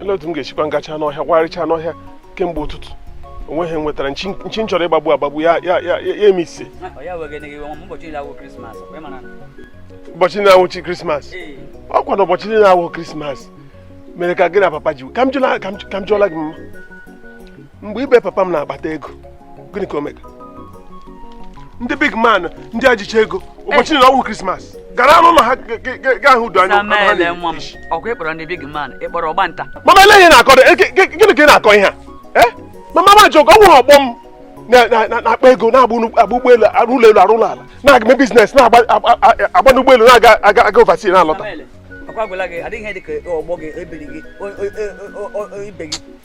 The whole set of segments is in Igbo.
ele otu m ga-esikwa ngacha n'ọhịa warịcha n'ọhịa kemgbe ụtụtụ onweghị ihe m nwetara nchi m chọrọ ịgbagbu agbagbu ya ya ya ya eme ise ụbọchị niile awụghị krismas ọkwa na ụbọchị niile na-awụ krismas mere ka gị na papa ji ka m jụla gị mma mgbe ibe papa m na-akpata ego gịnị ka o mega ndị big man ndị a jicha ego ụbọchị niile na-awụ krismas gara n'ụlọ ha gaa hụ ụdị anụ ha na-eri ọkwa ịkpọrọ ndị big man ịkpọrọ ọgba nta mama elee ihe ị na-akọ gịnị ka ị na-akọ ihe a eh? mama ma jụrụ ka ọ wụrụ ọgbọ m na-akpa ego na-agba ụgbọelu arụ ụlọ elu arụ ụlọ ala na-aga eme biznes na-agba n'ụgbọelu na-aga aga aga oversea na-alọta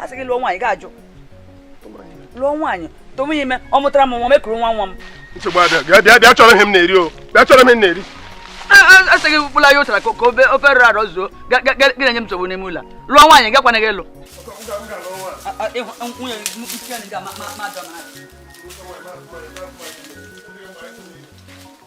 a sị gị lụọ nwaanyị gị ajụ lụọ nwaanyị tụwa ya ime ọ mụtara m nwa m ekuru nwa nwa m nsogbu adịghị bịa bịa bịa chọrọ ihe m na-eri o bịa chọrọ ihe m na-eri a sị gị bụla ya ụtara ka ofe rọrọ arọ zuo gị na-enye m nsogbu n'ime ụlọ lụọ nwaanyị gakwana gị ịlụ nwunye m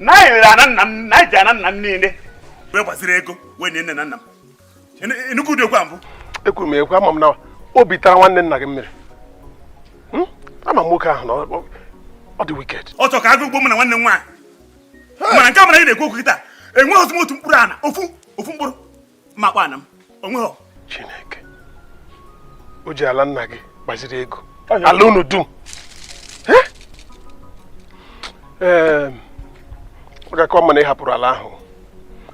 na anyị rere ana nna m na anyị ji ana nna m niile wee gbaziri ego wee nie nne na nna m ị nụ- ị nụkwa ụdị okwu a mbụ ekwuru m ekwu ama m na obi tara nwanne nna gị mmiri Hmm? ama m nwoke ahụ na ọ- ọ- ọ dị wicked ọ chọrọ ka agụụ gbuo mụ na nwanne m nwaanyị mana nke a mụ na gị na-ekwu okwu kịta enwerozi m otu mkpụrụ ana ofu ofu mkpụrụ makwana m onweghị chineke o ji ala nna gị gbaziri ego ala unu dum ọ ga-aka mma na ị hapụrụ ala ahụ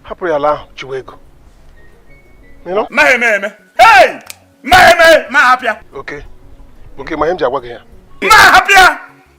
hapụrụ ya ala ahụ chụwa ego ma eme eme ma eme ma hapụ ya okay okay ma ihe m ji agwa gị ya ma hapụ ya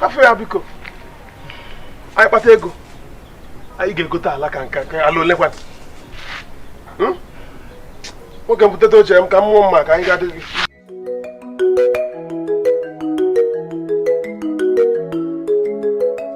hapụ ya biko anyị kpata ego anyị ga-egote ala ka nke a ala ole kwanụ hmm? nwoke m buteta oche m ka mmụọ mma ka anyị ga-adị gị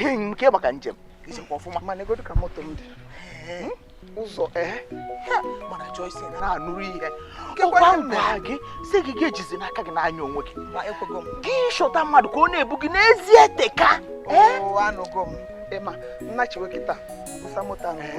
enyi m kee maka njem izikwa ọfụma ma negodu ka moto m dị ụzọ ee mana Joyce na-anụrụ ihe ọkwa m gwara gị sị gị gị ejizina aka gị na-anya onwe gị gị chọta mmadụ ka ọ na-ebu gị n'ezie teka anụgo m Emma nna chiwe kịta busa moto anụgo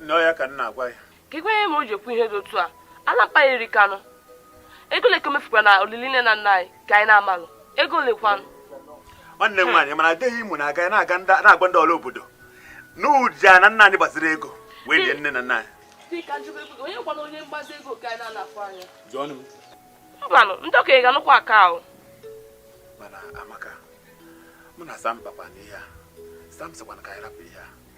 nne ọ ya ka m na-agwa ya kee ihe mere o ji ekwu ihe dị otu a ala mkpa iri kanụ ego ole ka e mefukwara na olili nne na nna anyị ka anyị na-amalụ ego ole kwanụ nwanne m nwaanyị mana dee Imo na-aga na-aga na-agwa ndị ọra obodo na o ji ana nna anyị gbaziri ego wee lie nne na nna anyị mbanụ ndị okenye ga-anụkwa ụka ahụ mana amaka mụ na sam kpakwara ihe a sam sịkwa na ka anyị rapụ ihe a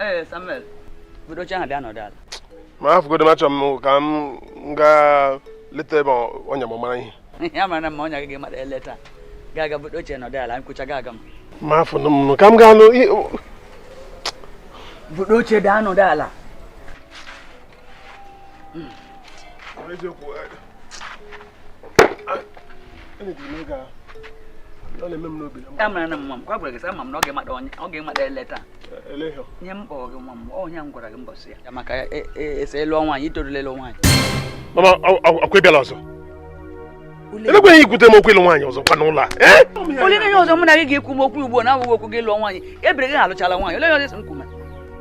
ee samuel buru oche ahụ bịa nọdụ ala ma hafụgodo m achọ m ka m gaa leta ebe ọnya m mara ihe ya mara na mma ọnya gị ga-emara eleta gaa gaa buru oche nọdụ ala m kwuchaa ga aga m ma hafụnụ m ka m gaa nụ buru oche bịa nọdụ ala amara na mma m kwa gwara gị sị ama m na ọ ga-emada onye ọ ga-emada eleta ihe m kpọrọ gị nwa m ọ ihe m gwara gị mbọsị ya maka ese ịlụ nwaanyị i torula ịlụ nwaanyị mama ọkwa ị bịala ọzọ elekwa ihe ikwute m okwu ịlụ nwaanyị ọzọkwa n'ụlọ a eh? olee ihe ọzọ mụ na gị ga-ekwu m okwu ugbu a na-awụghị okwu gị lụọ nwaanyị ebiri gị alụchala nwaanyị olee ihe ọzọ m kwume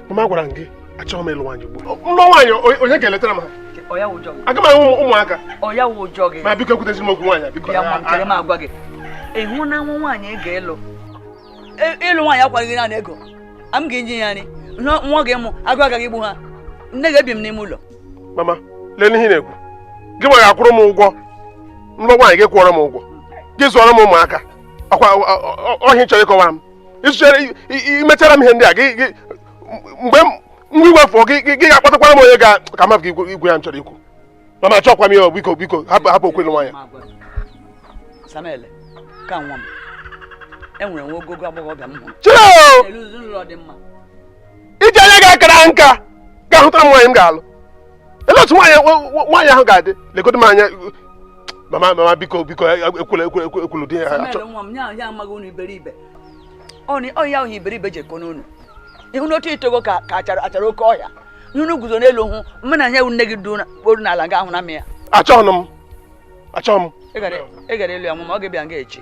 mama agwara m gị achọghị m ịlụ nwaanyị ugbu a m lụọ nwaanyị onye ga-eletara m aga m ahụ ụmụaka ma biko ekwutezi m okwu nwaanyị biko ị hụ na nwa nwaanyị ị ga-elụ e, ịlụ nwaanyị akwaghị gị naanị ego a m ga-enye ya nri nwa ga-emụ agụụ agaghị igbu ha nne ga-ebi m n'ime ụlọ mama leenụ ihe ị na-ekwu gị nwa ga-akwụrụ m ụgwọ m lụọ nwaanyị gị kwụọrọ m ụgwọ gị zụọrọ m ụmụaka ọkwa ọ ihe a ị chọrọ ịkọwara m ịsụchere imechara m ihe ndị a gị mgbe nwa iwe fu gị gị ga-akpatakwara m onye ga ka mmadụ gị igwe ya m chọrọ ikwu mama achọkwa m ya biko biko hapụ hapụ okwu ịlụ nwaanyị ka nwa m e nwere nwa ogogo agbọghọbịa m hụrụ i ji anya gị a kara nka gaa hụtara m nwaanyị m ga-alụ olee otu nwaanyị nwaanyị ahụ ga-adị legodo m anya mama mama biko biko ekwula ekwula ekwula di ya achọ nwa m ya amaghị unu iberibe ọ ya wụ iberibe ji eko n'unu ị hụna otu i togo ka achara achara oke ọhịa ihe unu guzo n'elu hụ mma na ihe nne gị duru n'ala nga ahụ na m ya achọghị m achọghị m ị ga-alụ ya mama ọ ga-ebịa nga echi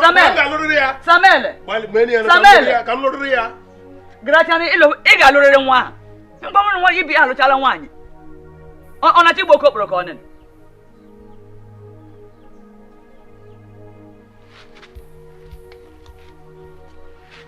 Samuel Samuel Samuel garachana ịlụ ị ga-alụrịrị nwa ahụ mgbanwere nwa ibe ya alụchala nwaanyị ọ na-achọ ịbụ okeokporo ka ọ nene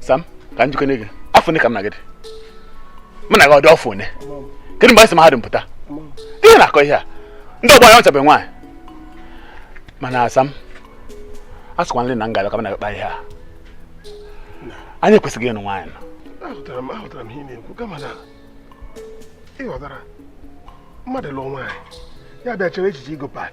sam ka m jụkene gị afọ one ka m na gị dị mụ na gị adị afọ one kedu mgbe anyị si mahadum pụta ị na-akọ ihe a ndị ọgbọ anyị anụchabe nwaanyị mana sam a sịkwa nri na ngalaba ka m na-akpa ihe a anyị ekwesịghị ịnụ nwaanyị nọ ahụtara m ahụtara m ihe ị na-ekwu kama na ị ghọtara mmadụ lụọ nwaanyị ya bịa chee echiche igo pad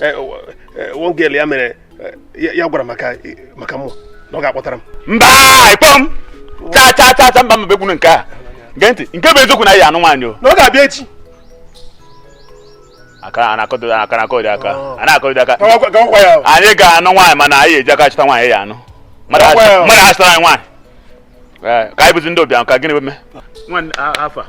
eh, eh, one girl ya mere eh, ya gwara maka maka mụ na ọ ga-akpọtara m mba ịkpọ m chaa chaa chaa chaa mba mba bekwunu nke a gee ntị nke bụ eziokwu na ya anụ nwaanyị o na ọ ga-abịa echi aka a na-akọdo aka na-akọdo aka oh. a na-akọdo aka anyị ga-anụ nwaanyị mana anyị eji aka chọta nwaanyị ya anụ mmadụ achọtara anyị nwaanyị eh, ka anyị bụzi ndị ụbịam ka gịnị mee nwanne afọ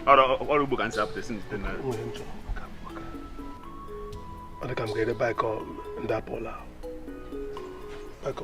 ọrụ ugbo ka m si apụta si njite narị ọ dị ka m ga-ere baịkọ ndị apụla baịkọ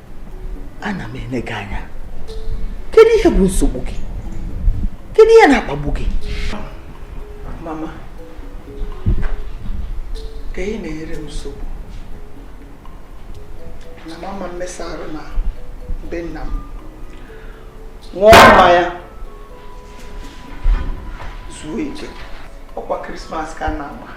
ana m ene gị anya kedu ihe bụ nsogbu gị kedu ihe na-akpagbu gị mama ka ị na-enyere m nsogbu na m ama mmesa arụ na be nna m ṅụọ mmanya zuo ike ọkwa krismas ka a na-agba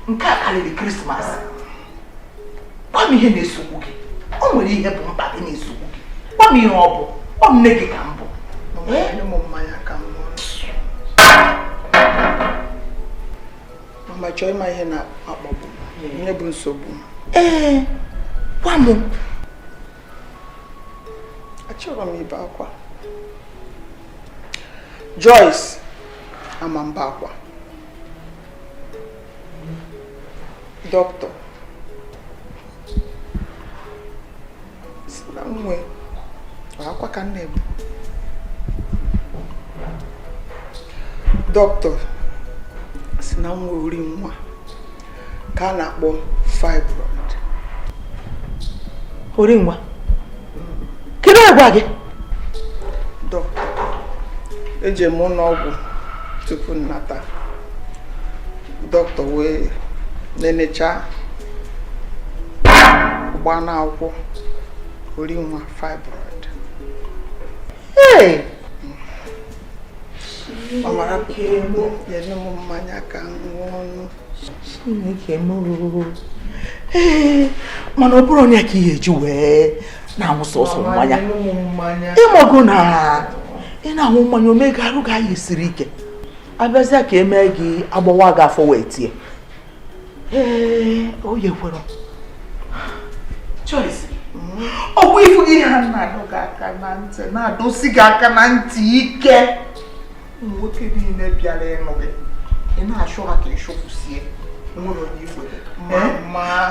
nke a karịrị krismas gwa m ihe na-esogbu gị o nwere ihe bụ mkpa gị na-esogbu gị gwa m ihe ọ bụ ọ nne gị ka m bụ mama chọọ ịma ihe na-akpagbu ihe bụ nsogbu ee gwa m achọrọ m ibe akwa Joyce ama m ebe akwa doctor sị na m nwe akwa ka m na-ebe doctor sị na m nwe ori nwa ka a na-akpọ fibroid ori nwa kedu onye gwa gị doctor eje m ụnọ ọgwụ tupu m nata doctor wee nenecha gbaa n'akwụkwọ ori nwa fibroid ọ mara ka emu ya nye m mmanya ka m ṅụọ ọnụ Chineke m ee mana ọ bụrụ onye ka ihe i ji wee na-aṅụ sọsọ mmanya ịmago na ị na-aṅụ mmanya o mee ka arụ gị anyị siri ike abịazịa ka e mee gị agbawa gị afọ wee tie ee o yekwere Joyce ọ bụ ị fugo ihe a na-adọ gị aka na ntị na-adọsi gị aka na ntị ike ụmụ nwoke niile bịara ịnụ gị ị na-achụ ha ka ị chụpụsie nwere onye i kwere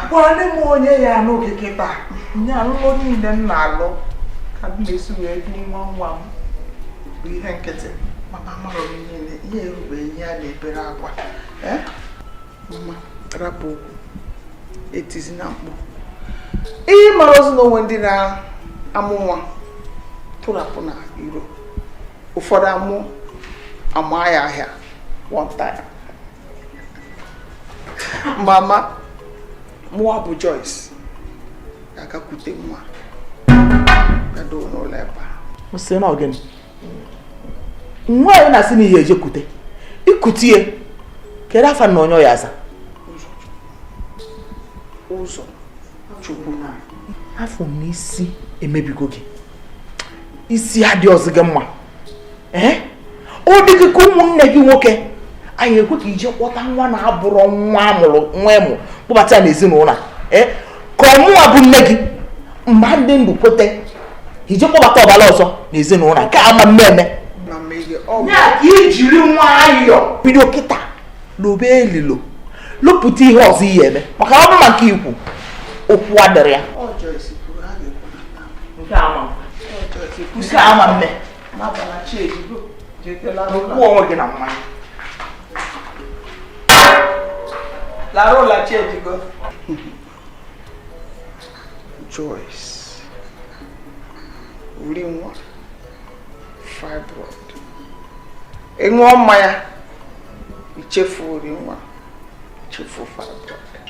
gwanị m onye ya-anụ gị kịta nye alụlụ niile m na-alụ ka m na-esi wee dị nwa nwa m bụ ihe nkịtị mama mara m niile ihe erube ihe a na-ebere akwa mama rapụ okwu etizina mkpu ị marọzi na o nwe ndị na-amụ nwa tụrapụ n'iro ụfọdụ amụọ ama ya ahịa one time mama mụwa bụ Joyce ga-aga kute nwa gado n'ụlọ ebe a sị na ọ gịnị nwa ya na-asị na ị ya-eje kute i kute ya kedu afa nna onye ọ ya-aza Ụzọchukwu afụ m na isi emebigo gị isi adịrọzi gị mma ee ọ dị gị ka ụmụnne gị nwoke a ya-ekwe ka i je kpọta nwa na-abụrọ nwa amụrụ nwa ị mụ kpọbata ya n'ezinụlọ ee ka ọ mụwa bụ nne gị mgbe m dị ndụ kwete i je kpọbata ọbara ọzọ n'ezinụlọ nke a ama mme eme ya ka i jiri nwayọọ bido kịta lobe elilo lopụta ihe ọzọ ị ya-eme maka ọ bụ maka nke i kwu okwu adịrọ ya nke ama nke a ama mme okwu onwe gị na mmanya larụ ụla chi ejigo Joyce uri nwa fibroid ị ṅụọ mmanya i chefu uri nwa i chefu fibroid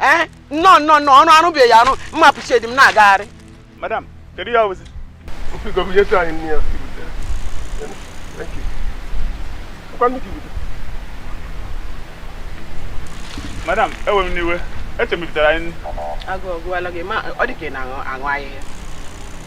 ee eh, nnọọ nnọọ nnọọ ọrụ arụbeghị arụ mma pụchedi m na-agagharị madam kedu ya ozi madam ewena iwe eche m i butara anyị agụụ agụwala gị ma ọ dị ka ị na-aṅụ ahịhịa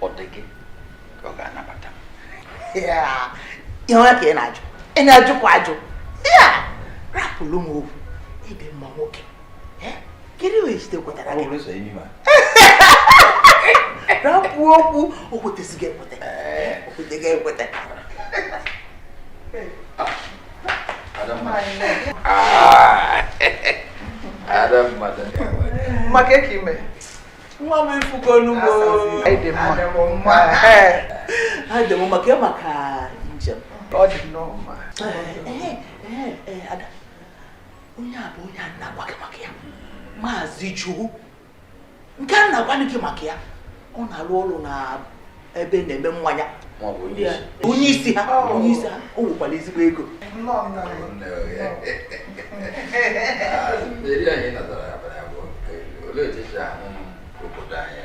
ọ dị gị ka ọ ga-anabata ihe ọma ka ị na-ajụ ị na-ajụkwa ajụ ya rapụrụ m okwu ibe m nwoke kedu ihe ejide kwetara gị rapụ okwu o kwetesịghị ekweta o kwetesịghị ekweta mama kee ka i me nwa m ị fụgonụ m o adị m mma kee maka njem ọ dị nnọọ mma ada onye a bụ onye a na-agwa gị maka ya maazị Chukwu nke m na-agwanụ gị maka ya ọ na-arụ ọrụ na ebe na-eme mmanya onye isi ha onye isi ha o nwekwara ezigbo ego olee otu esi ahụ obodo anyị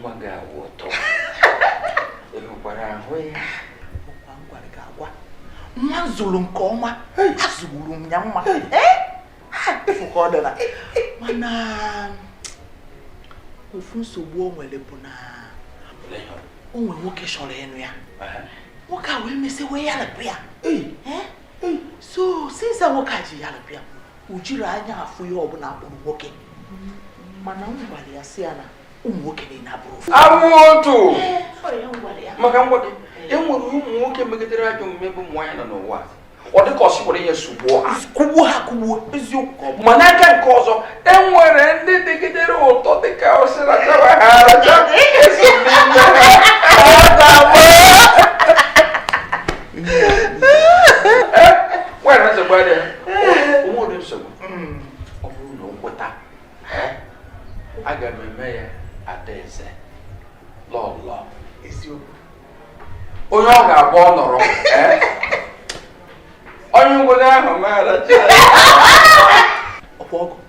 nwa gị awụ ụtọ ị hụkwara ahụ ya ọkwa m gwara gị agwa nwa m zụrụ nke ọma azụgburu m ya mma efu ka ọ dara mana ofu nsogbu o nwere bụ na o nwere nwoke chọrọ ịnụ ya nwoke a wee mesịa wee yarapụ ya so since nwoke a ji yarapụ ya o jirọ anya afụ ihe ọbụla a kpọrọ nwoke mana m gwara ya sị ya na ụmụ nwoke niile abụrọ otu ma ka m gwa gị e nwere ụmụ nwoke megidere ajọ omume ebe ụmụ nwaanyị nọ n'ụwa ọ dịka a sị were ihe sugbuo ha kụgbuo ha kụgbuo eziokwu ma n'aka nke ọzọ e nwere ndị dịgidere ụtọ dịka a sị rachawa ha aracha o so n'ime ha nwere nsogbu adịrọ o nwerọ nsogbu ọ bụrụ na o kweta aga m eme ya adaeze lọlọ eziokwu onye ọ ga-abụ ọ nọrọ onye ngwere ahụ mara ọkwa ọgọ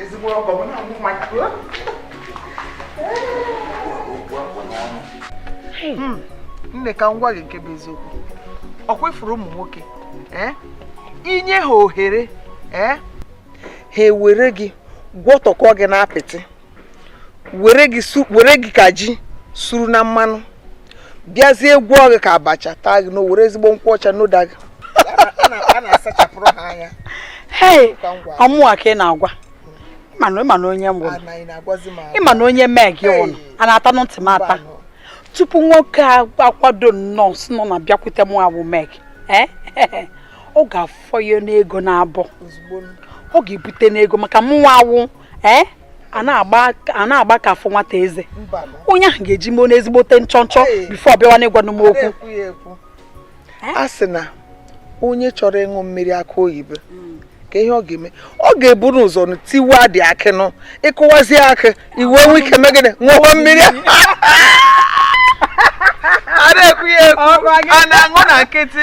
ezigbo ọgọ m na-amụ nwa hmm, nne ka m gwa gị nke bụ eziokwu ọkwa ị fụrụ ụmụ nwoke eh? i nye ha ohere eh? ha ewere gị gwọtọkọ gị n'apịtị were gị ka ji suru na mmanụ bịazie gwọọ gị ka abacha taa gị noo were ezigbo nkwụ ọcha ṅụda gị ọ mụwa ka ị na-agwa ị mana onye m bụ ị mana onye meg ụnụ a na-ata na ntị m ata tupu nwoke akwado nnọọ sị na ọ na-abịakwute mụwa wụ meg eh? ọ ga-afọyenụ ego n'abọ ọ ga-ebutenụ ego maka mụnwa awụ ee eh? a na-agba aka afụ nwata eze onye ahụ ga-eji money ezigbote nchọnchọ before ọ bịawanụ ịgwanụ m okwu eh? a sị na onye chọrọ ịṅụ mmiri akụ oyibo hmm. kee ihe ọ ga-eme ọ ga-eburu ụzọ tiwadị akị nụ ị kụwazie akị i wee nwee ike mee gịnị ṅụwa mmiri a na-ekwu ya ekwu a na-aṅụ na nkịtị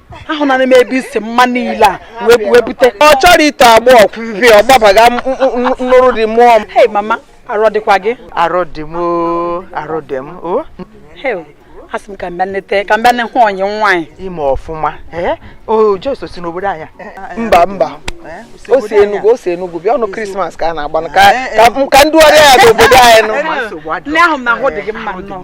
ahụnara m ebe i si mma niile a wee bute ọ chọrọ ite agba ọkwụvi ọ gbabaga nụrụ dị mụọ m hei mama arụ dịkwa gị arụ dị m arụ dị m o asị m ka m bịa nleta ka m bịa nne hụ onye nwaanyị i mee ọfụma o jo o si n'obodo anyị a mba mba o si enugwu o si enugwu bịa ọnụ krismas ka a na-agba ka ndị ọyị ya n'obodo anyị nnọọ nne ahụ m na ahụ dị gị mma nnọọ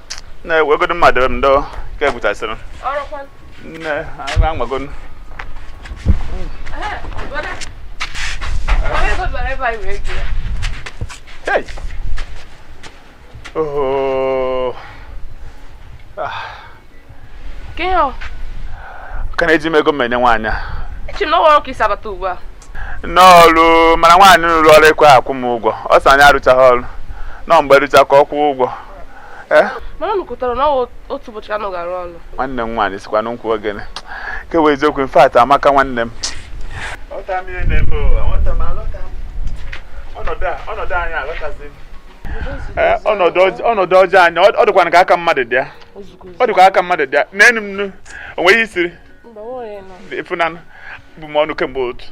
na-ewegodo mmadụ m ndo ka egwutasịrị nne agha anwagonu Hey! Oh. Ah. Ke ihe ọ? Ka na-eji m ego m enye nwaanyị a. Eche m na ọrụ ka i si abata ugbu a. N'ọrụ mana nwaanyị m rụụrụ ọrụ ekweghị akwụ m ụgwọ. Ọ sị anyị arụchaghị ọrụ. Na ọ mgbe a rụcha ka ọ kwụọ ụgwọ. eh? mana unu kwetara na otu ụbọchị ka unu ga-arụ ọrụ nwanne m nwaanyị sịkwanụ m kwuo gịnị nke bụ eziokwu in fact amaka nwanne m eh, ọnọdụ ọjọọ anyị a ọ dịkwa ka aka mmadụ dị ya ọ dịkwa aka mmadụ dị ya neenụ m nụ o nweghị ihe e siri ị fụnanụ ebu m ọnụ kemgbe otu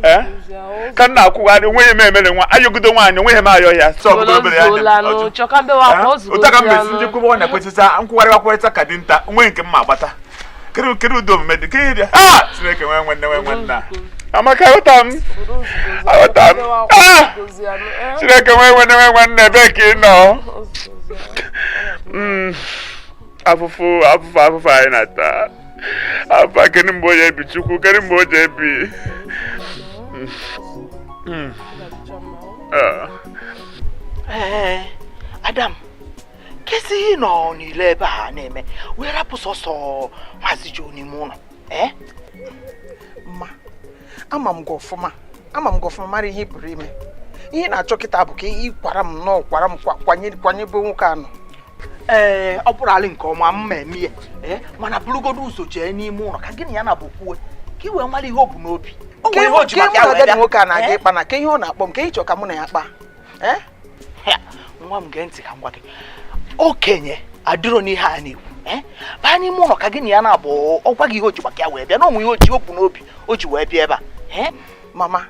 a ka m na-akwụgharị onweghị ihe m emere nwa ayọgide nwaanyị onweghị ihe m ayọ ya otu a ka m mesi ndị kwụbọ na kwetịta nkwụgharị akwụrịta ka dinta onweghị nke m ma agbata kedu kedu ụdị omume dị kedu ụdị ah chineke nwee nwanne nwee nwanna amaka aghọta m aghọta m ah chineke nwee nwanne nwee nwanna ebee ka ị nọ afụfụ afụfụ afụfụ anyị na-ata afụfụ kedu mgbe o ji ebi chukwu kedu mgbe o ji ebi ee ada m kezi ihe ị nọ n'ilo ebe a na-eme wee rapụ sọsọ maazị jo n'ime ụlọ ee ama m gị ọfụma ama m gị ọfụma mara ihe ị pụrụ ime ihe ị na-achọ kịta bụ ka ị kwara m nnọọ kwara m kwanye kwanye be nwoke a nọ ee ọ bụrụ alị nke ọma mma eme ya ee mana burugodo ụzọ jee n'ime ụlọ ka gị na ya naabọ kwuo ka i wee mara ihe o bu n'obi o nwere ihe o ji maka ya wee bịa nwoke a na-aga ịkpa na ke ihe ọ na-akpọ m ke ihe ị chọ ka mụ na ya kpaa nwa m gee ntị ka m gwa gị okenye adịrọ n'ihe a na-ekwu eh? baa n'ime ụlọ ka gị na ya naabọ ọ gwa gị ihe o ji maka ya wee bịa na o nwe ihe o bu n'obi o ji wee bịa ebe a eh? mama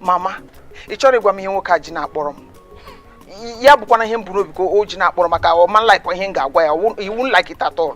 mama ị chọrọ ịgwa m ihe nwoke a ji na-akpọrọ m ya bụkwana ihe m bu n'obi ka o ji na-akpọrọ m maka ọ ma like ihe m ga-agwa ya he won't like it at all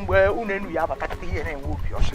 mgbe unu enu ya abata kịta ihe na-enwe obi ọcha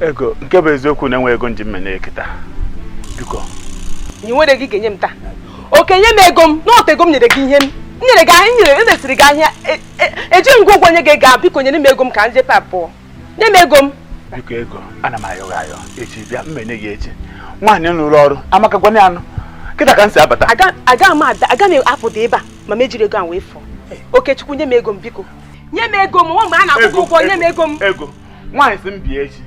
ego nke bụ eziokwu na enwe ego m ji mme na kịta biko nye nwere gị ga-enye m taa Oke nye m ego m n'otu ego m nyere gị ihe m nyere gị ahịa nyere eresịrị gị ahịa e- e- eji ngwa ụgwọ nye gị ego a biko nyere m ego m ka m jee pụọ nye m ego m biko ego ana m ayọ gị ayọ echi bịa m enye gị echi nwaanyị nụrụ olu Amaka gwanụ ya nụ kịta ka m si abata aga aga m ada aga m apụda ebe a ma m ejiri ego a wee fụọ Okechukwu nye m ego m biko nye m ego m nwa mgbe a na-akwụ ụgwọ nye m ego m ego nwaanyị sị m bịa echi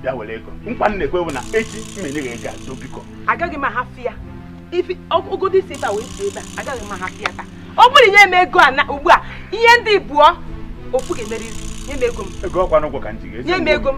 bịa were ego nkwa m na-ekwe bụ na echi m enye gị ego a ndo biko agaghị m ahafụ ya i fegodi si ebe a wee si ebe a agaghị m ahafụ ya taa ọ bụrụ nye m ego a na ugbu a ihe dị ibụọ ofu ga-emerịrị nye m ego m ego ọ kwa n'ụgwọ ka m ji gị eji nye m ego m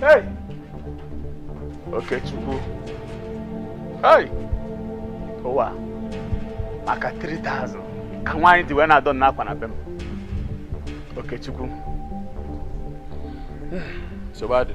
Hey! Okechukwu. Hey! Ụwa maka 3000 ka nwaanyị ji wee na-adọ m akwa na be m. Okechukwu. Sobadu.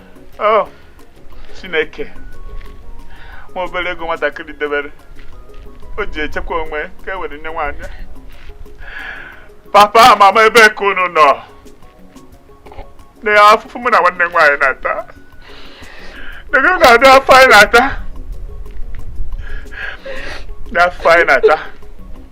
oh, chineke nwa obere ego nwatakịrị debere o ji echekwa onwe ka e were nye nwaanyị papa mama ebe ka unu nọ na afụfụ mụ na nwanne nwaanyị na-ata negodi afụfụ anyị na-ata na afụfụ anyị na-ata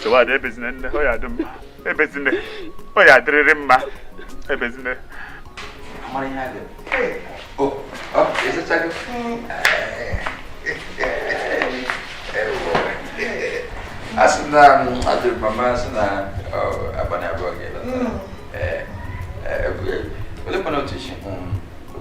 chei nwada ebezina nne ọ ya-adị mma ebezina ọ ya-adịrịrị mma ebezina a sị na adịrị mama a sị na abalị abụọ ga-eleta olee kwana otu isi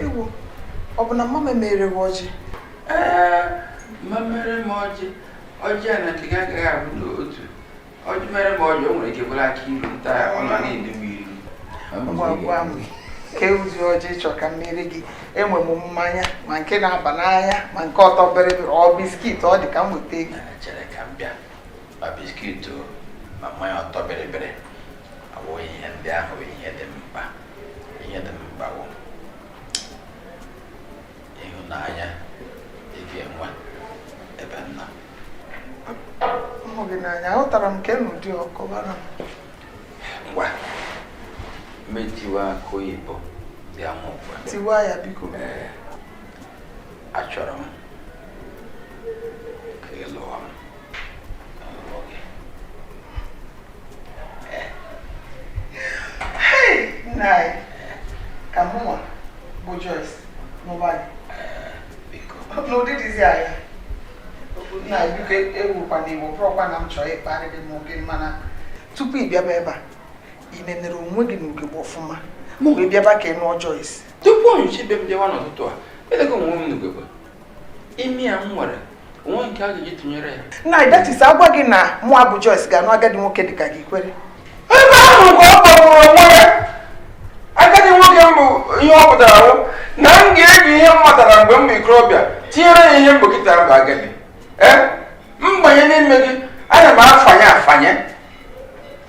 ewoo ọ bụ na mama emere gị ọjị ee ma mere m ọjị ọjị a na nke gị agaghị abụ n'otu ọjị mere m ọjị o nwere ike bụrụ akịilu m taa ọ nọ na-elu m ilu ngwa gwa m kedụzi ọjị ị chọ ka m mere gị enwe m mmanya ma nke na-aba n'anya ma nke ọtọ bịrịbịrị ọ biskit ọ dị ka m weta gị chere ka m bịa ma biskit ma mmanya ọtọ bịrịbịrị abụghị ihe ndị ahụ ihe dị mkpa ihe dị mkpa bụ ịhụnanya ị ga-enwe ebe nna hụ gị n'anya ahụtara m ka enu dị ọkọbara m ngwa m etiwa akụ oyibo bịa m ngwa tiwa ya biko ee achọrọ m ka ị lụọ m nna anyị ka mụnwa bụ Joyce nụba gị n'ụdị dịzi aṅaa nna anyị biko ewukwana iwe ọ bụrọkwa na m chọrọ ịkparị gị ma oge mana tupu ị bịaba ebe a ị nenere onwe gị n'ugegbe ọfụma ma ọ bụ ị bịaba ka ị nụọ Joyce tupu onyechi ibe m bịawa n'ụtụtụ a elego onwe m n'ugegbe imi a m nwere o nwe nke a ga-eji tụnyere ya nna anyị that is a gwa gị na mụwa bụ Joyce ga-anụ agadi nwoke dịka gị i kwere ebe ahụ ka ọ kpọgburu onwe ya agadi nwoke m bụ ihe ọ pụtara bụ na m ga-eji ihe m matara mgbe m bụ ikorobịa tinyere ya ihe mgbokịta bụ agadi ee m banye n'ime gị ana m afanye afanye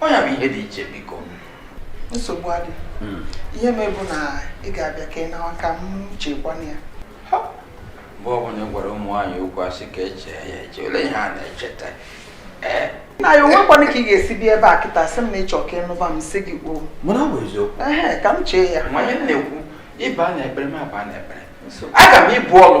ọ ya bụ ihe dị iche biko nsogbu adị hmm. ihe me bụ na ị ga-abịa ka ị nawa ka m chekwanụ ya mgbe ọbụla ị gwara ụmụ nwaanyị okwu a sị ka e chee ya eche olee ihe a na-echeta ee nna anyị o nwekwanụ ka ị ga-esi bịa ebe a kịta sị m na ị chọ ka ị nụba m sị gị kwuo ee ka m chee ya nwaanyị m na-ekwu ị baa n'ekpere m abaa n'ekpere aga m ibu ọnụ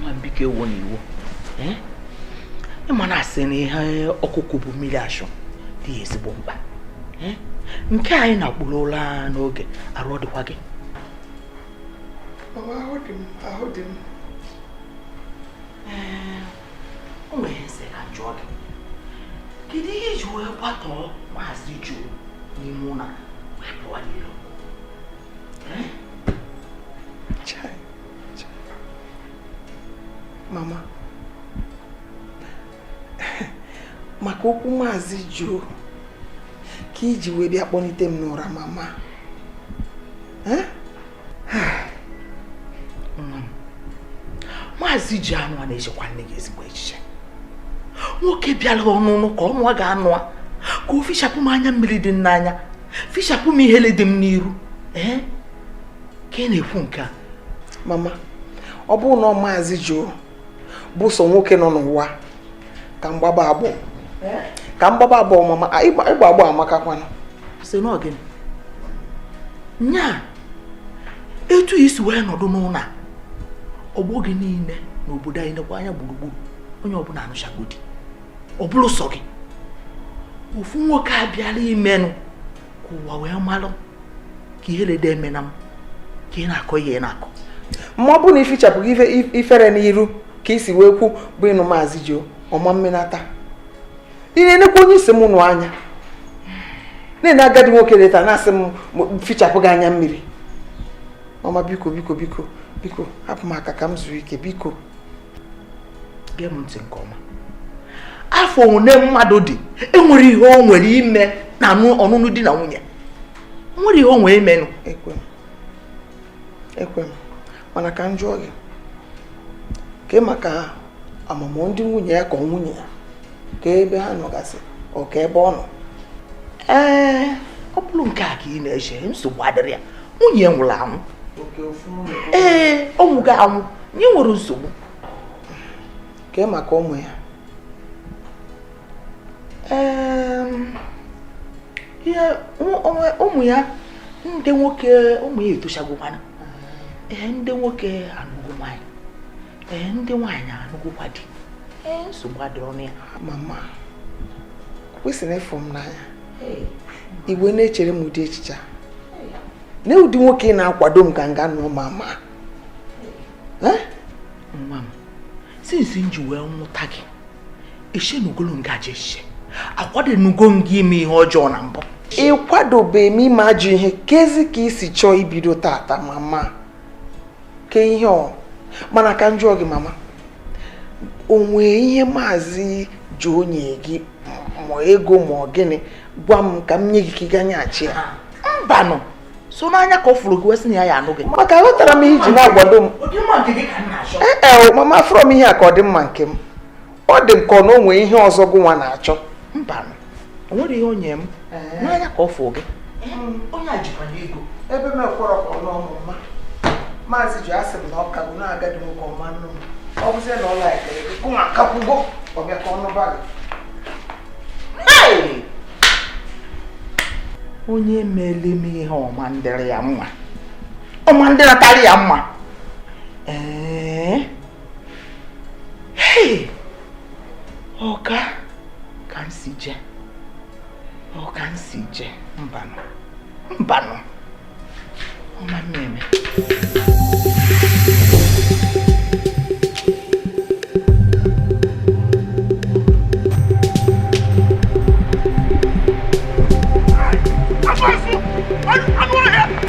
nwa m biko ewona iwe ị ma na a sị na ihe ọkụkụ bu mmiri ashụ dị ya ezigbo mkpa nke a ị na-akpụrụ ụra n'oge arụ ọ dịkwa gị ahụ dị m o nwere m sị ka m jụọ gị kedu ihe i ji wee kwatọọ maazị Joe n'ime ụlọ wee pụọ n'ilo mama maka okwu maazị Joe ka i ji wee bịa kpọlite m n'ụra mama maazị Joe anụa na-echekwa nne gị ezigbo echiche nwoke bịara ọnụnụ ka ọ nụa ga-anụ a ka o fichapụ m anya mmiri dị n'anya fichapụ m ihele dị m n'iru ee ka ị na-ekwu nke a mama ọ bụrụ na maazị Joe bụ sọ nwoke nọ n'ụwa ka m gbaba agbọ ka m gbaba agbọ mama ịgba agbọ amakakwana sị n'ọ gịnị nya etu ị si wee nọdụ n'ụlọ ọgbọ gị niile n'obodo anyị nekwa anya gburugburu onye ọbụla anụchago di ọ bụrụ sọ gị ofu nwoke abịala imenụ ka ụwa wee malụ ka ihe lede eme na m ka ị na-akọ ihe ị na-akọ ma ọ bụrụ na ị fichapụghị ifere n'iru ka ị si wee kwu bụ ịnụ maazị Joe ọma mmenata ị na-enekwa onye ị sị m nụ anya na-ene agadi nwoke leta na-asị m fichapụ gị anya mmiri mama biko biko biko biko hapụ m aka ka m zuo ike biko gee m ntị nke ọma afọ one mmadụ dị enwerọ ihe o nwere ime na ọnụnụ di na nwunye enwerọ ihe o nwere imenụ ekwe m ekwe m mana ka m jụọ gị kee maka mama ndị nwunye ya ka ọ nwunye ya kee ebe ha nọgasị ọ ka ebe ọ nọ ee ọ bụrụ nke a ka ị na-eche nsogbu adịrọ ya nwunye nwụrụ anwụ ee ọ nwụgo anwụ nya enwerọ nsogbu kee maka ụmụ ya ee ụmụ ya ndị nwoke ụmụ ya etochagokwana ee ndị nwoke anụgo nwaanyị ee ndị nwaanyị anụgokwa di ee nsogbu adịrọ na ya mama kwesịrị ịfụ m n'anya ị wee na-echere m ụdị echiche nee ụdị nwoke ị na-akwado m ka m gaa nụọ mama nwa m since m ji wee mụta gị eshenugolu m gị ajọ echiche akwadonugo m gị ime ihe ọjọọ na mbụ ị kwadobe m ime ajọ ihe keezi ka ị si chọọ ibido tata mama kee ihe ọ mana ka m jụọ gị mama o nwee ihe maazị Joe nye gị ma ego ma ọ gịnị gwa m ka m nye gị ka ị gaa nyeghachi ya mbanụ sọ n'anya ka ọ fụrụ gị wee sị na ya ya-anụ gị maka aghọtarọ m ihe i ji na-akwado m ee mama afụrọ m ihe a ka ọ dị mma nke m ọ dị m ka ọ na o nwee ihe ọzọ gụnwa na-achọ mbanụ o nwerọ ihe o nye m n'anya ka ọ fụ gị onye a jikwanụ ego ebe m ekwerọ ka ọ nụọ m mama maazị Joe asị m na ọ kagbu na agadi nwoke ọ ma-anụ m ọ bụzie na ọ likere gị gụnwa akakwugo ọ bịa ka ọ nụba gị onye mele m ihe ọ ma-adịrị ya mma ọ ma-adịrịtara ya mma ee ọka ka m si je ọka m si je mbanụ mbanụ ọ ma-eme eme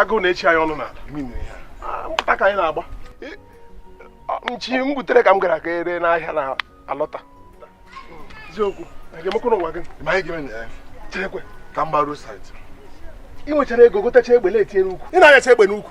agụụ na-echi anyị ọnụ n'ala m pụta ka anyị na-agba nchi m gbutere ka m gara ka ere n'ahịa na alọta eziokwu ga-emekwara nwa gị ma anyị ga-eme na ya cherekwe ka m gbaruo saịtị ị nwechara ego gotacha egbe na-etinye n'ukwu ị na-anyacha egbe n'ukwu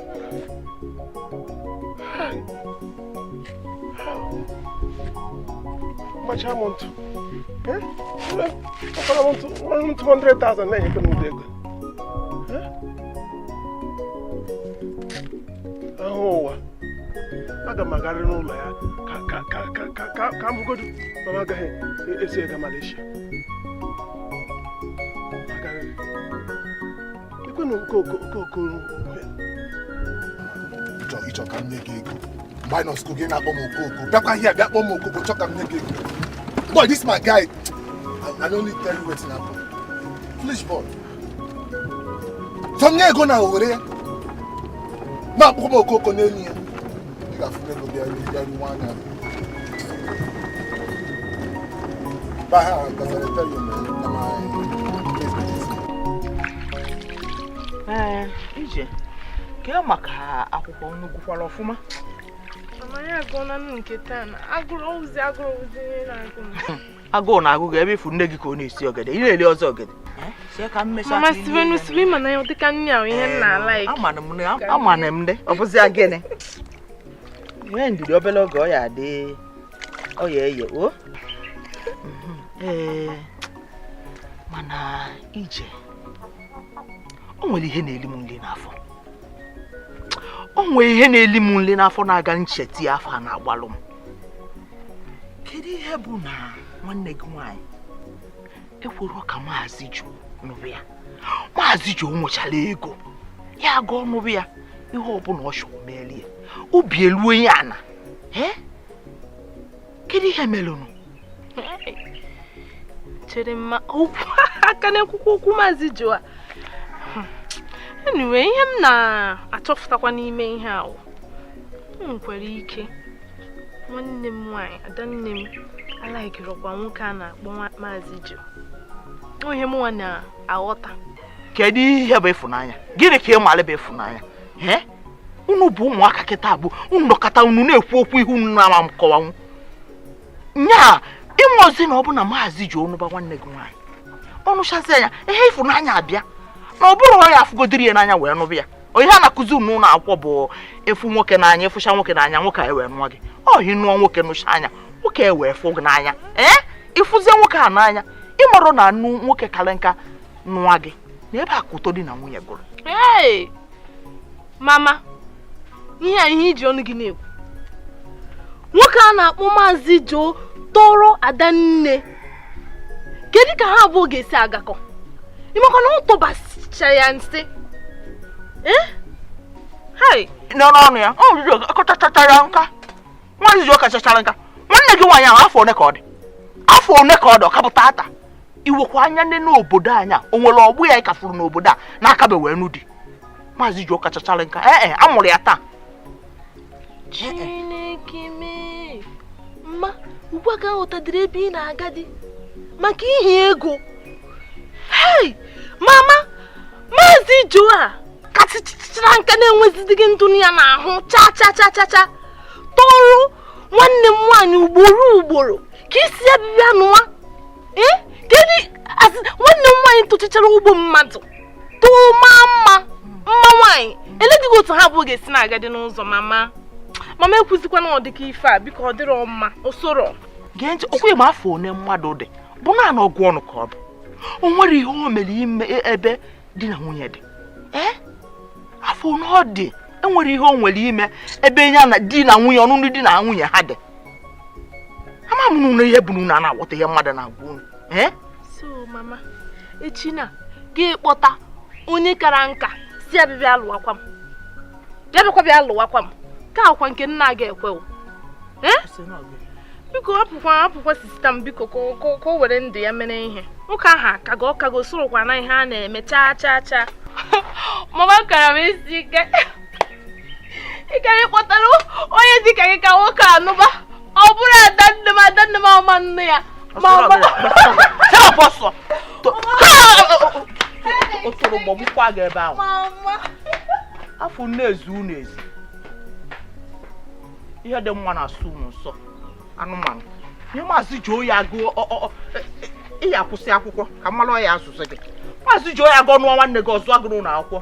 kpachaa m ntụ kpachara m ntụ ọrụ ntụ 100,000 na-enyekọ m ụdị ego ahụ ụwa aga m agarị n'ụlọ ya ka m hụgodu ma m agaghị esi ega Malaysia ikwenụ nke okokoro ị chọ ka m nye gị ego mgbe anyị nọ skul gị na-akpọ m okoko bịakwa ihe bịa kpọ m okoko chọ ka m nye gị ego boy this my guy i no need tell you wetin happen foolish boy so m nye ego na o were ya na-akpọ m okoko n'elu ya ee ije kee maka akwụkwọ unu gụkwara ọfụma Mama ya agụọla m nke taa na agụrụ ozi agụrụ ozi na-agụ m agụụ na-agụ gị ebe ị fụ nne gị ka ọ na-esi ogede ị na-eli ọzọ ogede mama Steven si mana ya dịka nne ahụ ihe m na-alike amana m ndị ọ bụzi gịnị nwee ndidi obele oge ọ ya-adị ọ ya-eye o mhm. ee mana ije o nwere ihe na-eli m nli n'afọ o nwere ihe na-eli m nli n'afọ na-aga m chete ya afọ a na-agbalụ m kedu ihe bụ na nwanne gị nwaanyị ekwerọ ka maazị Joe nụrụ ya maazị Joe nwechara ego ya aga nụrụ ya ihe ọbụla ọ chọrọ meeri ya obi eluo ya ana kedu ihe melụnụ chere mma ọkwa aka na-ekwukwa okwu maazị Jo a hmm. enwe ihe m na-achọfụtakwa n'ime ihe ahụ nwekwara ike nwanne m nwaanyị adanne m alaikirọkwa nwoke a na-akpọ maazị Jo ihe mụnwa na-aghọta kedu ihe bụ ịfụnanya gịnị ka ị mara bụ ịfụnanya unu bụ ụmụaka kịtaa bụ unu nọkọta unu na-ekwu okwu ihe unu na-ama m kọwanwu nyaa ịnwe ozi na ọ bụ na maazị Jo nụba nwanne gị nwaanyị ọ nụchazia nya ihe ịfụnanya abịa na ọ bụrọ ya afụgodiri ya n'anya wee nụba ya ọ ihe a na-akụzi unu n'ụlọ akwụkwọ bụ ị fụ nwoke n'anya ị fụcha nwoke n'anya nwoke a ewee nụọ gị ọ ị nụọ nwoke nụchaa nya nwoke ewee fụ gị n'anya ee ịfụzie nwoke a n'anya ị marọ na anụ nwoke karị nka nụọ gị na ebe a ka ụtọ di na nwunye gụrụ mama ihe a ihe iji ọnụ gị na-ekwu nwoke a na-akpọ maazị Joe tọrọ adanne kedu ka ha abụọ ga-esi agakọ ịmakwa na ọ tọbachara ya nsị eh? n'ọnụ ọnụ ya ọ riri ọ kachachachara nka maazị Joe kachachara nka nwanne gị nwaanyị ahụ afọ one ka ọ dị afọ one ka ọ dị ọ ka bụ tata i wekwa anya nee n'obodo anyị a o nwere ọgbọ ya ị ka fụrụ n'obodo a na-akabe wee nụ di maazị Jo kachachara nka ee eh, eh, a mụrụ ya taa chineke mee mma ugbu a ka aghọtadịrị ebe ị na-agadị maka ihi ego hei mama maazị Jo a kachachara nka na-enwezidịghị ndụ dị ya n'ahụ cha cha cha cha cha tọrọ nwanne m nwaanyị ugboro ugboro ka ị sị ya bị bịa nụwa eh? kedu nwanne m nwaanyị tụchichara ugbo mmadụ tụma mma mma nwaanyị eledịghị otu ha abụọ ga-esi na-agadị n'ụzọ mama mama ekwuzikwana ọdịka ife a biko ọ dịrọ mma osoro gee ntị ọkwa ịma afọ one mmadụ dị bụ naanị ọgụ ọnụ ka ọ bụ o nwere ihe o mere ime e, ebe di na nwunye dị ee afọ one ọ dị enwere ihe o nwere ime ebe ya na di na nwunye ọnụnụ di na nwunye ha dị ama m na ihe bụ na unu ana-aghọta ihe mmadụ na-agwa unu eh? so mama echi na gị kpọta onye kara nka sị ya bị bịa lụwakwa m bịa bịakwa bịa lụwakwa m ka akwa nke nna gị ekwe o eh? biko hapụkwa hapụkwa sista m biko ka o were ndụ ya mere ihe nwoke ahụ akago ọ kago o sorọkwa na ihe a na-eme chaa chaa chaa mama kara m isi ike ị gara ịkpọtara onye dịka gị ka nwoke a nụba ọ bụrụ ada nne m ada nne m ọma nne ya ma ọ ma- otoro gbọgbukwa gị ebe ahụ mama afọ na-ezi unu ezi ihe dị mma na-asọ unu nsọ anụmanụ ihe maazị ji oyi agụ ọ- ọ- ọ- ị ya akwụsị akwụkwọ ka m malụ onye ya azụzi gị maazị ji oyi agụ ọnụọ nwanne gị ọzọ agụrụ ụlọ akwụkwọ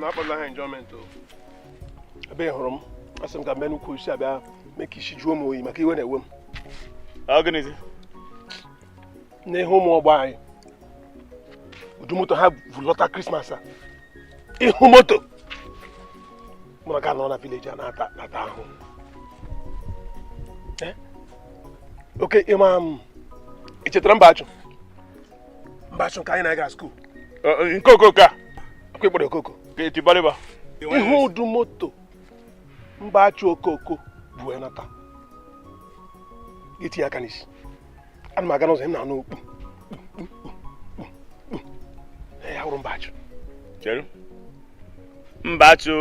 na-akpọla ha enjoyment ebe ị hụrụ m asị m ka m bịa n'ukwu osisi a bịa mee ka isi jụọ m oyi maka iwe na-ewe m n'ịhụ ụmụ ọgbọ anyị ụdụ moto ha vulọta krismas a ịhụ moto mụ ka nọ na village a na-ata ahụ eh? okay ị ma m ị chetara Mbachu Mbachu nke anyị na-aga school eh, eh, nke okoko a ọ kwa ị kpọrọ okoko etibariba ị hụ ụdụ moto Mbachu okoko bu wee nata i tie aka n'isi ana m aga n'ụzọ na-anụ okpu ya wụrụ Mbachu chere Mbachu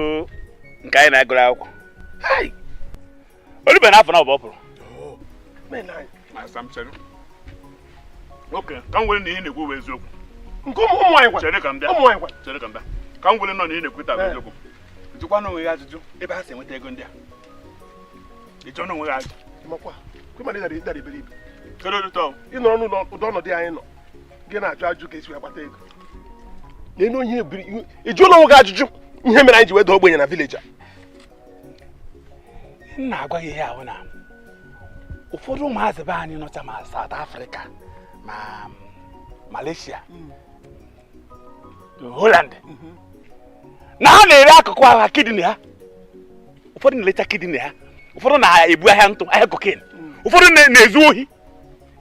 nke anyị na ya gụrụ akwụkwọ o lube na afọ naabọ ọ pụrụ okay ka m were na ihe ị na-ekwu bụ eziokwu nke ụmụ ụmụ anyị gwa chere ka m bịa ụmụ anyị gwa chere ka m bịa ka m were nọ na ihe ị na-ekwuta bụ eziokwu ị jụkwana onwe gị ajụjụ ebe ha si enweta ego ndị a ị jụọna onwe gị ajụjụ amakwa m na ị dara ị dara iberibe kedu ụdị tọọ ị nọrọ n'ụdị ọnọdụ anyị nọ gị na-ajụ ajụjụ ka e si wee kpata ego n'elu onye ebiri ị jụọla onwe gị ajụjụ ihe mere anyị ji wee daa ogbenye na village a m na-agwa gị ihe ahụ na ụfọdụ ụmụazị be anyị nọcha ma South Africa ma Malaysia Holland mhm. na ha na-ere akụkụ ahụ ha kidney ha ụfọdụ na-elecha kidney ha ụfọdụ na-ebu ahịa ntụ ahịa cocaine mm. ụfọdụ na-ezu ohi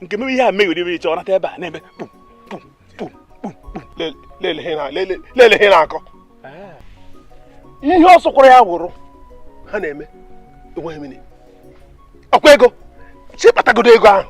nke mebe ihe a meghere ebe iche ọ nata ebe a na-eme kpum kpum kpum kpum kpum lele ihe ị na-akọ ah. ihe ọ sọkwara ya wụrụ ha na-eme enweghị meaning ọkwa ego si kpatagodo ego ahụ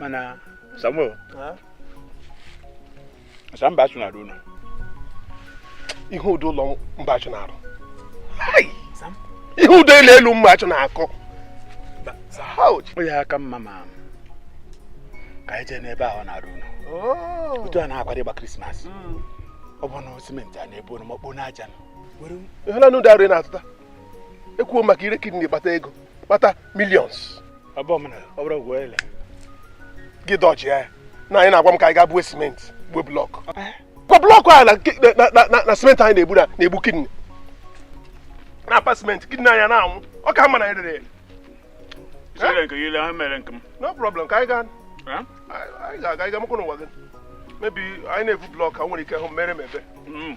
mana samuel asị Mbachu na-arụ ụlọ ị hụ ụdị ụlọ Mbachu na-arụ ị hụ ụdị ụlọ elu Mbachu na-akọ ọ ya aka mma ma ka anyị jee n'ebe ọ na-arụ ụlọ oh. otu a na-akwado ịgba krismas hmm. ọ bụ na cement a na-ebu oroma kpoo n'aja ihe na n'ụdị arụ na-atụta ekwuo maka ire kidney kpata ego kpata millions gị dọji ya na anyị na-agwa m ka anyị gaa buo simenti buo blọkụ kwa blọkụ a na simenti anyị na-ebu na-egbu kidney na-apa simenti kidney anyị na-anwụ ọ ka mma na anyị rere no problem ka anyị gaa anyị ga-aga ịga mụkwụ n'ụwa gị maybe anyị na-ebu blọkụ a nwere ike hụ mere m ebe mm.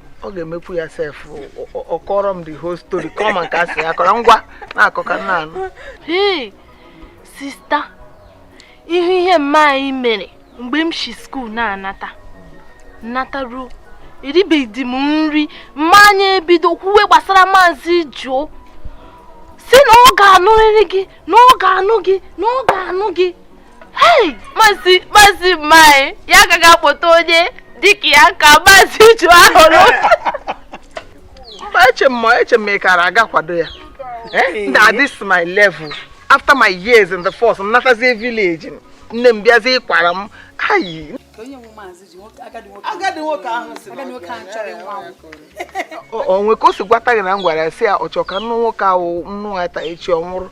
ọ ga-emekwu ya sef ọ kọrọ m the whole story kọọ ma nke a sị ya kọrọ ngwa na-akọ ka m na-anụ hei sista ị hụ ihe mma anyị mere mgbe m si skuul na-anata m nata ruo eribeghị m nri mma anyị ebido kwuwe gbasara maazị Joe sị na ọ ga-anụrịrị gị na ọ ga-anụ gị na ọ ga-anụ gị mazi mazi mma anyị ya agaghị akpọta onye dịka ya ka mazi Joe ahụrụ eche m eche m ị kara aga kwado ya eh, na this my level after my years in the force m natazie village nne m bịazie ịkwara m ayi agadi nwoke ahụ o nwe ka o si gwata gị na m gwara ya sị ya ọ chọrọ ka m nụ nwoke ahụ m nụa taa echi ọ nwụrụ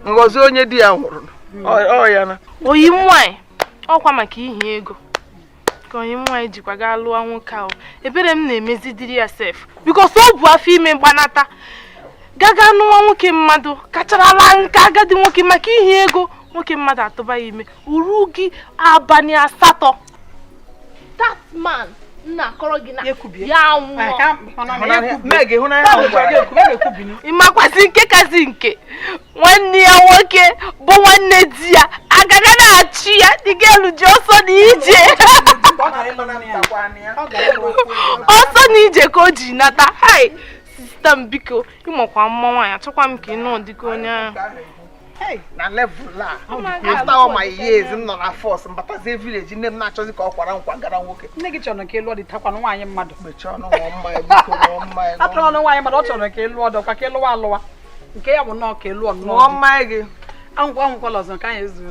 m ghọzie onye di ya nwụrụ ọ ya na ọyị m nwanyị ọkwa maka ihi ego ka ọyị m nwaanyị jikwa gaa lụọ nwoke ahụ ebere m na-emezidiri ya sef because o bu afọ ime gbanata gaga nụwa nwoke mmadụ kacharala nka agadi nwoke maka ihi ego nwoke mmadụ atụba ya ime o rughị abalị asatọ that man m na-akọrọ gị na ya nwụọ ị makwazị nke kazị nke nwanne ya nwoke bụ nwanne di ya agaga na-achị ya the girl ji ọsọ na ije ọsọ na ije ka o ji nata hei sista m biko ị makwa mma nwaanyị achọkwa m ka ị nụọ di ka onye ahụ na level a after all my years m nọ na force m batazie village nne m na-achọzi ka ọ kwara m kwagara nwoke nne gị chọrọ ka ị lụọ di atakwana nwaanyị mmadụ mechie ọnụ ṅụọ mmanya biko ṅụọ mmanya atụrụ ọnụ nwaanyị mmadụ ọ chọrọ ka ị lụọ di ọ kwa ka ị lụwa alụwa nke ya bụ nnọọ ka ị lụọ ṅụọ mmanya gị aṅụkwa aṅụkwala ọzọ nke anyị ezuru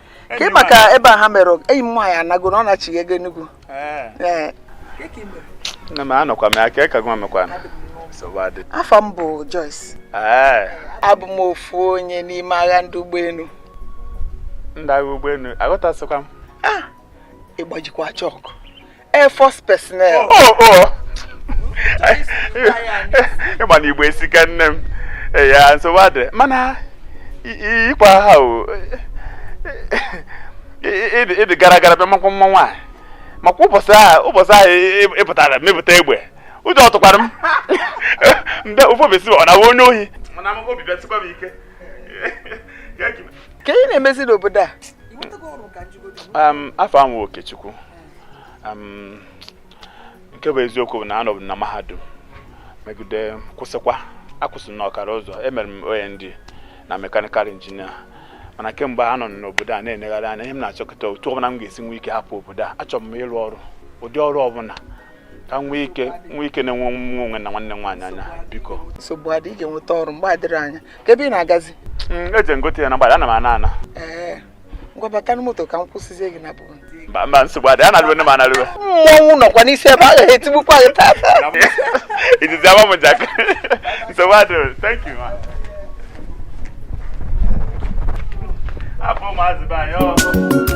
ka ị maka ebe a ha mere enyi m nwaanyị anago na ọ nachighago Enugu nne m anụkwa m ya ka ịka gwa mekwa afa m bụ Joyce abụ m ofu onye n'ime agha ndị ụgbọelu ndị agha ụgbọelu aghọtasịkwa m ah! ị gbajikwa chọkụ Air Force personnel. Oh, oh. oh. ị ma na igbo esika nne m ya nsogbu adịrọ mana ikwa ha o ị dị gara gara bịa makwa mma nwaanyị makwa ụbọchị ahụ ị pụtara wepụta egbe ụjọ tụkwara m mbe ụfọbesi ọ na ị wụ onye ohi kee ị na-emezi n'obodo a afa m wụ Okechukwu nke bụ eziokwu bụ na anọbu m na mahadum megide kwụsịkwa akwụsị na ọkara ụzọ emere m OND na mechanical engineer mana kemgbe m nọ n'obodo a na-enegharị anya ihe m na-achọ kịta otu ọbụna m ga-esi nwee ike hapụ obodo a achọrọ m ịrụ ọrụ ụdị ọrụ ọbụna ka m nwee ike na-ene onwe m na nwanne m nwaanyị anya biko nsogbu adị ị ga-enweta ọrụ mgbe adịrọ anya kee ebe ị na-agazi mm, eje m gote ihe na mgbada ana m ana ana ngwa bata na moto ka m kwụsịzie gị na bụrụ mba nsogbu adị analụwe nne m analụwe mmọnwụ nọkwa n'isi ebe a ga-etigbukwa gị tata izizi ama m jak nsogbu adị thank you ma abụ maazị be anyị ọ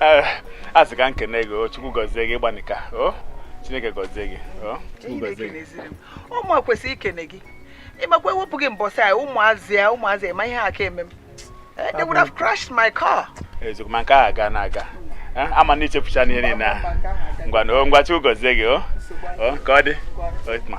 Eh, asị m ka m kene gị o chukwu gọzie gị ị gbanịka o chineke gọzie gị o chukwu gọzie gị ọ mụ kwesịrị ikene gị ị makwa e wepụ gị mbọsị a ụmụazị ya ụmụazị ema ihe ha ka-eme m eh, they would have crashed my car eziokwu ma nke ahụ agana aga eh, ama m na i chefuchana ihe niile ahụ ngwa na o ngwa chukwu gọzie gị o o ka ọ dị o ma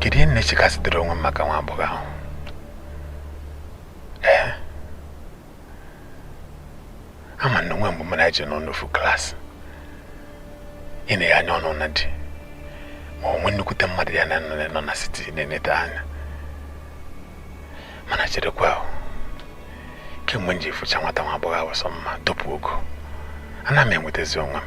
kedu ihe m na-echekasịdịrị onwe m maka nwa agbọghọ ahụ ee eh? ama m na o nwe mgbe mụ na ya ji nọ n'ofu class i nee ya anya ọ nụọna di ma o nwe nnukwute mmadụ ya na ya nọ na city na-eneta anya mana cherekwa o kemgbe m ji fụcha nwata nwa agbọghọ ahụ sọ mma dọpụ ogo ana m enwetazi onwe m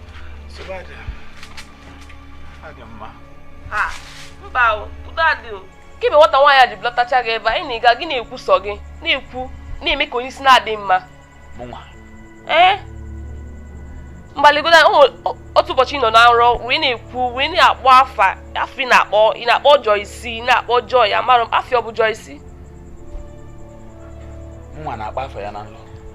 mba udo adị o kemgbe nwata nwaanyị a ji bulatacha gị ebe anyị na-ịga gị na-ekwu sọ gị na-ekwu na-eme ka onye isi na-adị mma ee mgbaligoda otu ụbọchị ị nọ na nrọ wee na-ekwu wee na-akpọ afa afa ị na-akpọ ị na-akpọ Joyce ị na-akpọ Joy amarọ m ife ọ bụ Joyce nwa na-akpọ afa ya na nrọ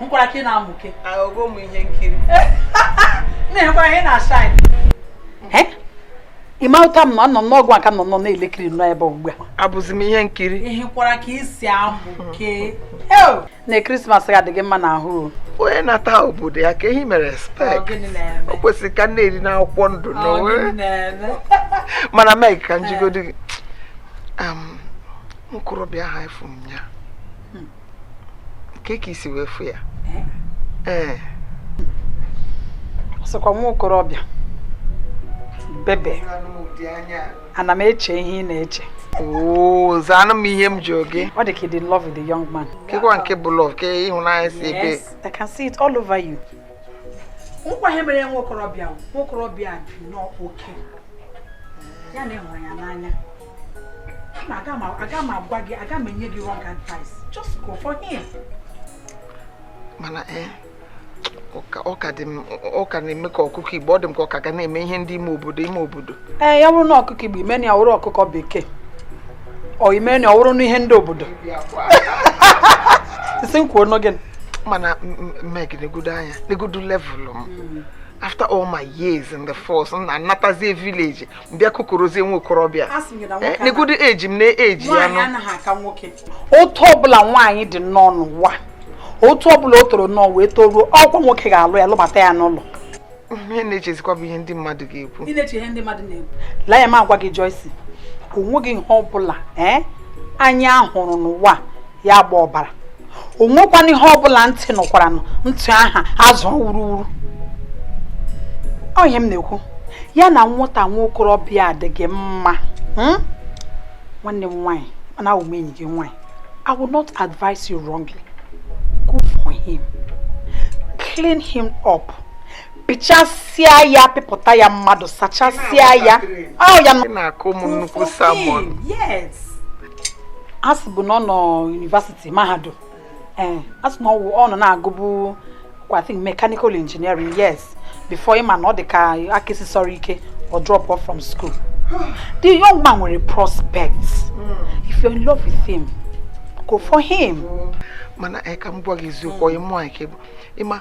nekwara ka ị na-amụke ahụgo m ihe nkiri na-enwekwara ihe na-ashine ịma ụta m na anọ m n'ọgwụ aka nnọọ nọ na-elekiri nnọọ ebe ugbu a abụzi m ihe nkiri lekwara ka i si amụke na krismas ga-adị gị mma n'ahụ o onye na-ata obodo ya ka ehi mere spek gịnị na-eme o kwesịrị ka m na-eri n'akwụkwọ ndụ na Ọ, onwe gịnị na-eme mana Meg ka m jụgodi gị Am, nwokorobịa a afụ m ya kee ka i si wee fụ ya ee eh. sịkwa nwa okorobịa bebe ana m eche ihe ị na-eche oo zaanụ m ihe m jụrụ gị ọ dị ka ị dị in love with the young man kekwa nke bụ love ke ịhụnanya si ebee yes I can see it all over you nekwa ihe mere nwa okorobịa nwa okorobịa bi n'oke ya na ị hụrụ ya n'anya Mama, aga m aga m agwa gị agaghị m enye gị wrong advice just go for him mana ee eh, ọ ka dị m ọ ka na-eme ka ọkụkọ igbo ọ dị m ka ọ ka ga na-eme ihe ndị ime obodo ime obodo ee eh, ya wụrụ na ọkụkọ igbo i menụ ya wụrụ ọkụkọ bekee o i menụ ya wụrụ n'ihe ndị obodo ị sị m kwuonụ gịnị mana Meg negodo anya negodo level m hmm. after all my years in the force na anatazie village bịa kukuruzie nwa okorobịa eh, negodo age m na age ya nụ otu ọbụla nwaanyị dị nnọọ n'ụwa otu ọbụla o toro nnọọ wee toruo ọ kwa nwoke ga-alụ ya lụbata ya n'ụlọ ihe m na-echezikwa bụ ihe ndị mmadụ ga-ekwu lee anya m gwa gị Joyce o nweghị ihe ọbụla eh, anya hụrụ n'ụwa ya agba ọbara o nwekwana ihe ọbụla ntị nụkwaranụ ntị aha azụ wuruwuru onye m na-ekwu ya na nwata nwa okorobịa adịghị mma hmm? nwanne m nwaanyị mana awụ m enyi gị nwaanyị I will not advise you wrongly go for him clean him up pịchasịa ya pịpụta ya mmadụ sachasịa ya ọ ya na-akụ m nnukwu sermon yes a sị bụ na ọ nọ university mahadum ee eh, a sị na ọ nọ na-agụbu I think mechanical engineering yes before ị ma na ọ dị ka aka esisịrọ ike ọ drop off from school the young man nwere prospects hmm. if you're in love with him go for him. mana anyị eh, ka m gwa gị eziokwu onye mụ anyị ka ị ma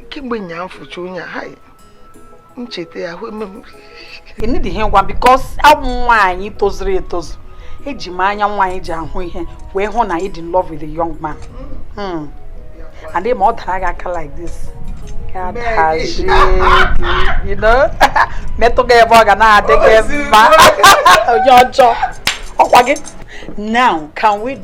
kemgbe ụnyaa m fụcha onye a m cheta ya ahụ eme m enidi ihe ngwa because abụ m nwaanyị tozuru etozu eji m anya nwaanyị ji ahụ ihe wee hụ na ị dị in love with the young man hmm. and ị ma ọ dara gị aka like this metụ gị ebe ọ ga na-adị gị mma onye ọjọọ ọ kwa gị now can we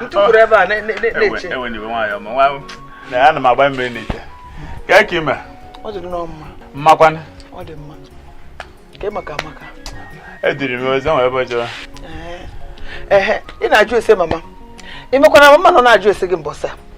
m tukwuru ebe a na-eche ana m agba mmiri n'ite kee ka i me ọ dị nnọọ mma mama kwanụ ọ dị mma kee maka Amaka ediri m ozi nwere ebe jọrọ ee ị na-ajụ ese mama ị makwa na mama nọ na-ajụ ese gị mbọsị a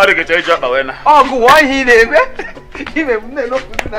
ọ dị ga-eche iji ọkpa wee na ọgụ wụọ ihe ị na-eme ime m na-elopụzi na